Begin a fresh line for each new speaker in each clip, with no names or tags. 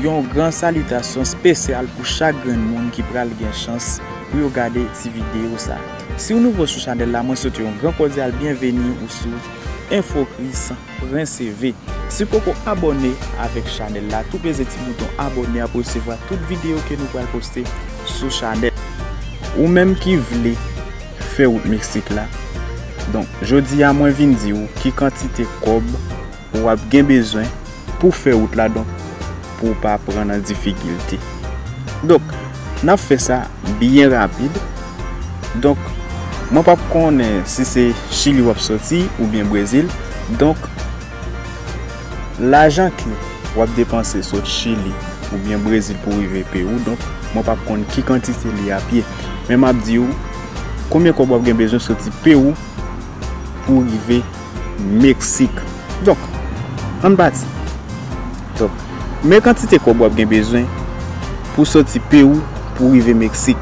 Yon gran salitasyon spesyal pou chak grenn moun ki pral gen chans pou yo gade ti video sa. Siw nouvo sou chanèl la mwen swete yon gran kodyal byenveni ou sou Infocris. Pran CV. Si w poko abòne avèk chanèl la tou peze ti bouton abòne a pou resevwa tout videyo ke nou pral poste sou chanèl. Ou menm ki vle fè wout Mexique la donk jodi a mwen vin di ou ki kantite kòb wap gen bezwen pou fè wout la donk pou w pa pran nan difikilte. Donk, n ap fè sa byen rapid. Donk, mwen p ap konnen si se Chili w ap soti oubyen Brezil. Donk, lajan ke w ap depanse sot Chili oubyen Brezil pou rive peyi w, donk, mwen p ap konn ki kantite li ap ye. Men m ap di w, konbyen kòb w ap gen bezwen soti peyi w pou rive Meksik. Donk, ann pati. Donk, men kantite kòb w ap gen bezwen pou soti Pewou pou rive Meksik.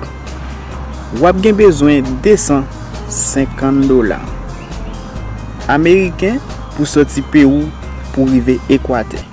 W ap gen bezwen 250 dola ameriken pou soti Pewou pou rive Ekwatè.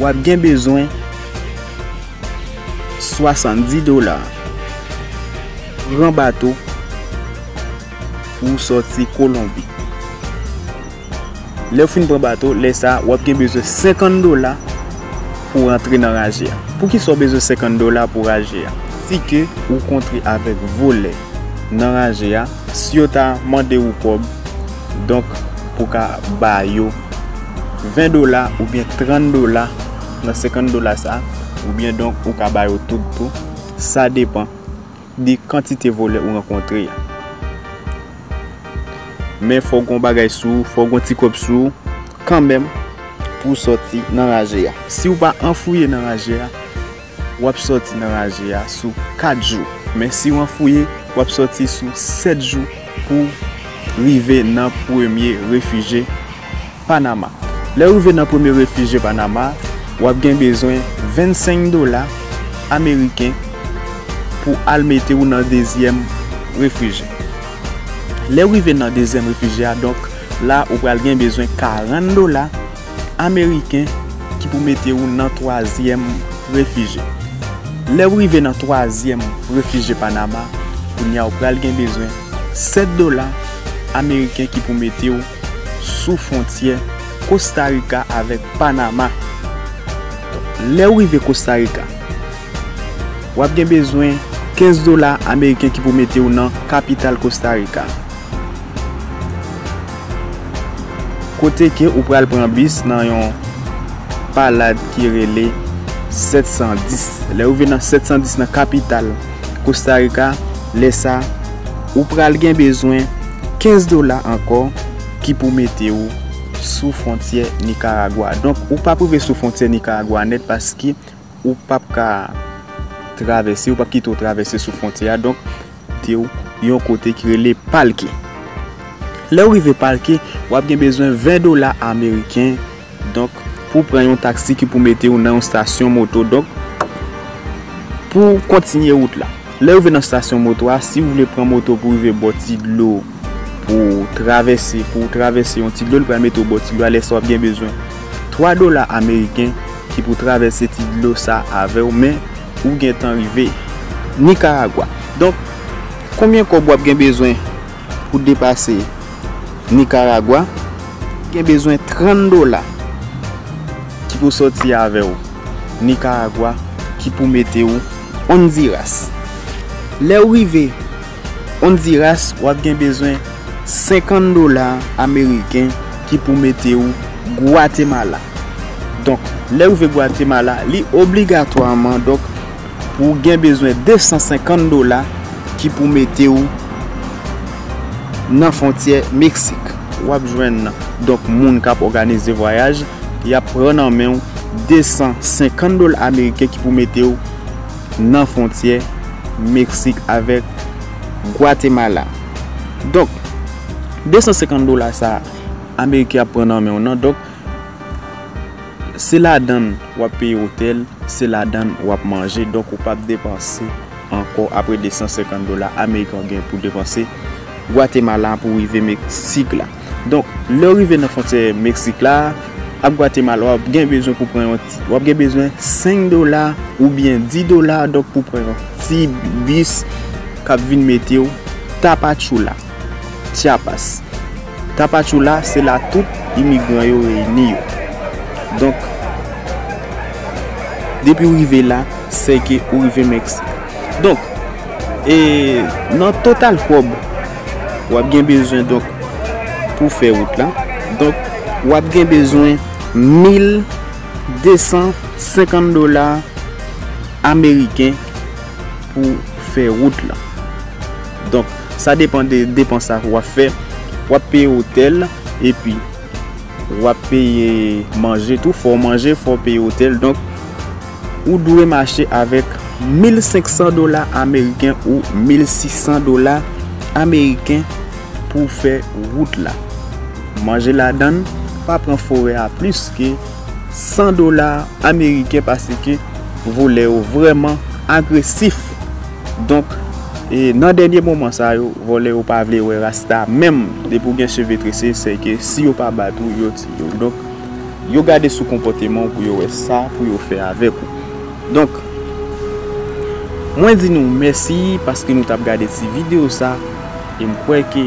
Wap gen bezwen 70 dola pran bato pou soti kolonbi lèw fin pran bato lè sa wap gen bezwen 50 dola pou rantre nan raje a poukisa ou bezwen 50 dola pou raje a si ke ou kontre avèk volè nan raje a si yo ta mande ou kòb donk pou ka ba yo. 20 dola oubyen 30 dola nan 50 dola sa oubyen donk ou ka ba yo tout tou sa depan de kantite vòlè ou rankontre ya men fòk gon bagay sou ou fòk gon ti kòb sou ou kanmenm pou sòti nan raje ya si ou pa anfouye nan raje ya wap sòti nan raje a sou 4 jou, men si w anfouye, wap sòti sou 7 jou pou rive nan premye refije Panama. Lè w rive nan premye refije Panama, wap gen bezwen 25 dola ameriken pou al mete w nan dezyèm refije. Lè w rive nan dezyèm refije a, donk la ou pral gen bezwen 40 dola. Ameriken ki pou mete ou nan twazyèm refije. Lè ou rive nan twazyèm refije Panama, kounye a ou pral gen bezwen 7 dola Ameriken ki pou mete ou sou fwontyè Kosta Rika avèk Panama. Lè ou rive Kosta Rika, ou ap gen bezwen 15 dola Ameriken ki pou mete ou nan kapital Kosta Rika. Kote ke ou pral pran bis nan yon palad ki rele 710. Lè ou rive nan 710 nan kapital Kosta Rika, lè sa ou pral gen bezwen 15 dola ankò ki pou mete ou sou fwontyè Nikaragwa. Donk ou pa pou rive sou fwontyè Nikaragwa nèt paske. Ou pap ka travèse, yo pap kite w travèse sou fwontyè a. Donk, te w yon kote ki rele Palke. Lè w rive Palke, w ap gen bezwen 20 dola ameriken, donk, pou w pran yon taksi ki pou mete w nan yon stasyon moto. Donk, pou w kontinye wout la. Lè w rive nan stasyon moto a, si w vle pran moto pou w rive bò ti dlo Pou w travèse, pou w travèse yon ti dlo li pral mete w bò ti dlo a lè sa w ap gen bezwen 3 dola ameriken ki pou travèse ti dlo sa avè w men ou gentan rive Nikaragwa donk konbyen kòb wap gen bezwen pou w depase Nikaragwa gen bezwen 30 dola ki pou sòti avè w Nikaragwa ki pou mete w Ondiras lè w rive. Ondiras wap gen bezwen 50 dola ameriken ki pou mete ou Gwatemala. Donk lè rive Gwatemala li obligatwaman donk pou ou gen bezwen 250 dola ki pou mete ou nan fontyè Meksik. Wap jwenn nan donk moun kap òganize vwayaj yap pran nan menw 250 dola ameriken ki pou mete ou. nan fwontyè Meksik avèk Gwatemala. Donk, 250 dola sa a, Ameriken ap pran nan men w nan. Donk, se ladan l w ap peye otèl, se ladan l w ap manje. Donk, ou pap depanse ankò apre 250 dola Ameriken w gen pou depanse Gwatemala pou rive Meksik la. Donk, lè ou rive nan fwontyè Meksik la ak Gwatemala, w ap gen bezwen pou pran yon ti, w ap gen bezwen 5 dola oubyen 10 dola donk pou pran yon ti bis k ap vin mete w Tapachula, Chiapas. Tapachula se la tout imigran yo reyini yo. Donk, depi ou rive la, sè ke ou rive Meksik. Donk, e nan total kòb. wap gen bezwen donk pou fè wout la donk wap gen bezwen 1250 dola ameriken pou fè wout la donk sa depan de depan sa wap fè wap peye otèl epi wap peye manje tou fò manje fò peye otèl donk Ou dwe mache avèk 1500 dola ameriken ou 1600 dola ameriken pou w fè wout la. Manje ladann pa pran forè a plis ke 100 dola ameriken paske volè yo vrèman agresif. Donk, e nan dènye moman sa yo, volè yo pa vle wè rasta menm depi w gen cheve trese sèke si yo pa bat ou yo tiye w. Yo gade sou konpòteman w pou yo wè sa pou yo fè avèk ou. Donk, mwen di nou mèsi paske nou t ap gade ti videyo sa e m kwè ke.